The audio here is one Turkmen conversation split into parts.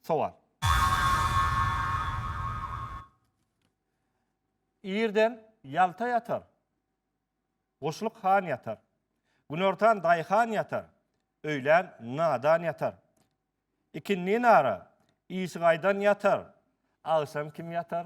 Sowal. Irden Ýalta ýatar. Guşluk han ýatar. Günortan daýhan ýatar. Öýlän nadan ýatar. Ikindin ara, işigaýdan ýatar. Agşam kim ýatar?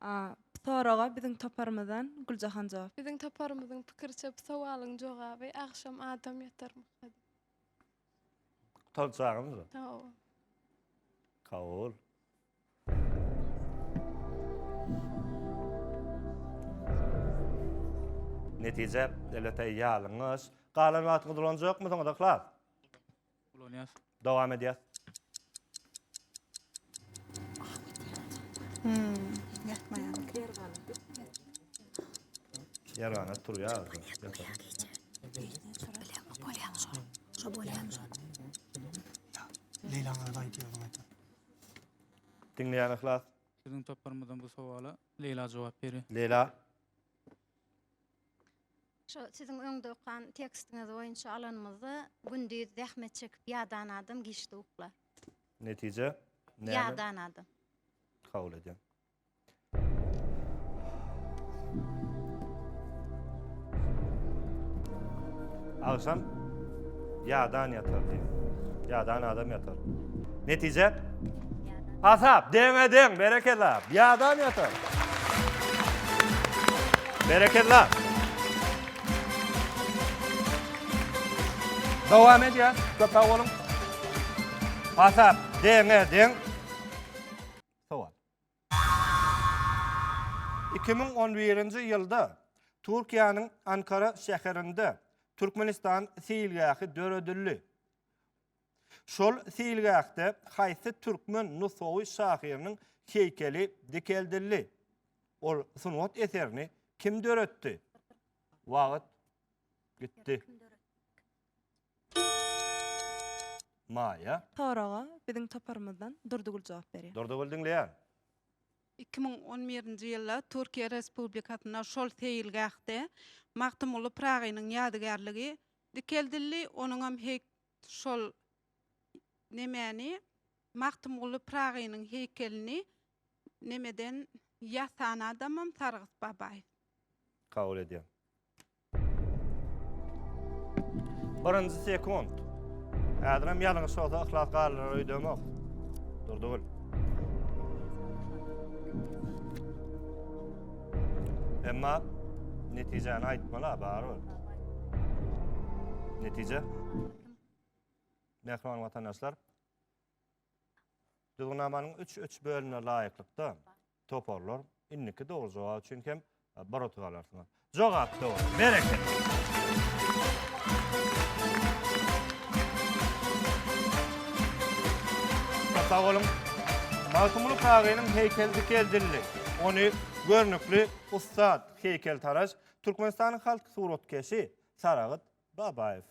A. Bu soraga biziň toparymyzdan Güljahan jogap. Biziň toparymyzyň pikiriçe bu sowalyň jogaby agşam adam ýatarmyka diýip. Gutaryjagyňyzmy? Hawa. Kabul. Netije, elbetde, ýalňyş. Galan wagtyňyzy ulanjakmysyňyz, yhlas? Ulanýas. Dowam edýäs. Ýarana turýar. Diňleýän yhlas. Siziň toparymyzdan bu sowala Leýla jogap berýär. Leýla. Şu siziň öňde okan tekstiňiz boýunça alanymyzda gündiz zähmet çekip ýadan adam giçdi ukla. Netije näme? Ýadan adam. Kabul edýän. Agşam Ýadan ýatar diýip. Ýadan adam ýatar. Netije? Asap, deňe deň, berekella. Ýadan ýatar. Berekella. Dowam edýär. Köp sag boluň. Asap, deňe deň. Iki müň on birinji ýylda Türkiýäniň Ankara şäherinde Türkmenistan seýilgähi döredildi. Şol seýilgähde haýsy türkmen nusgawy şahyrynyň heýkeli dikeldildi? Ol sungat eserini kim döretdi? Wagt gitdi. Maýa. Soraga biziň toparymyzdan Durdygül jogap berýär. Durdygül diňleýän. Iki müň on birinji ýylda Türkiýe Respublikasynda şol seýilgähde Magtymguly Pyragynyň ýadygärligi dikeldildi, onuňam heý şol nemäni Magtymguly Pyragynyň heýkelini nemeden ýasan adamam Sargyt Babaýew. Kabul edýän. Birinji sekund. Häzir hem ýalňyş bolsa yhlas galynar öýdemok. Durdugul. Emma netijäni aýtmaly barybir. Netije. Mähriban watandaşlar. Düzgünnamanyň 3-3 bölümine laýyklykda Toparlar indiki dogry jogap üçin hem bir utuk alarsyňyz. Jogap dogry. Berekella. Sag boluň. Magtymguly Kagynyň heýkeli dikeldildi. Ony görnükli ussat heýkeltaraş, Türkmenistanyň halk suratkeşi Saragyt Babaýew.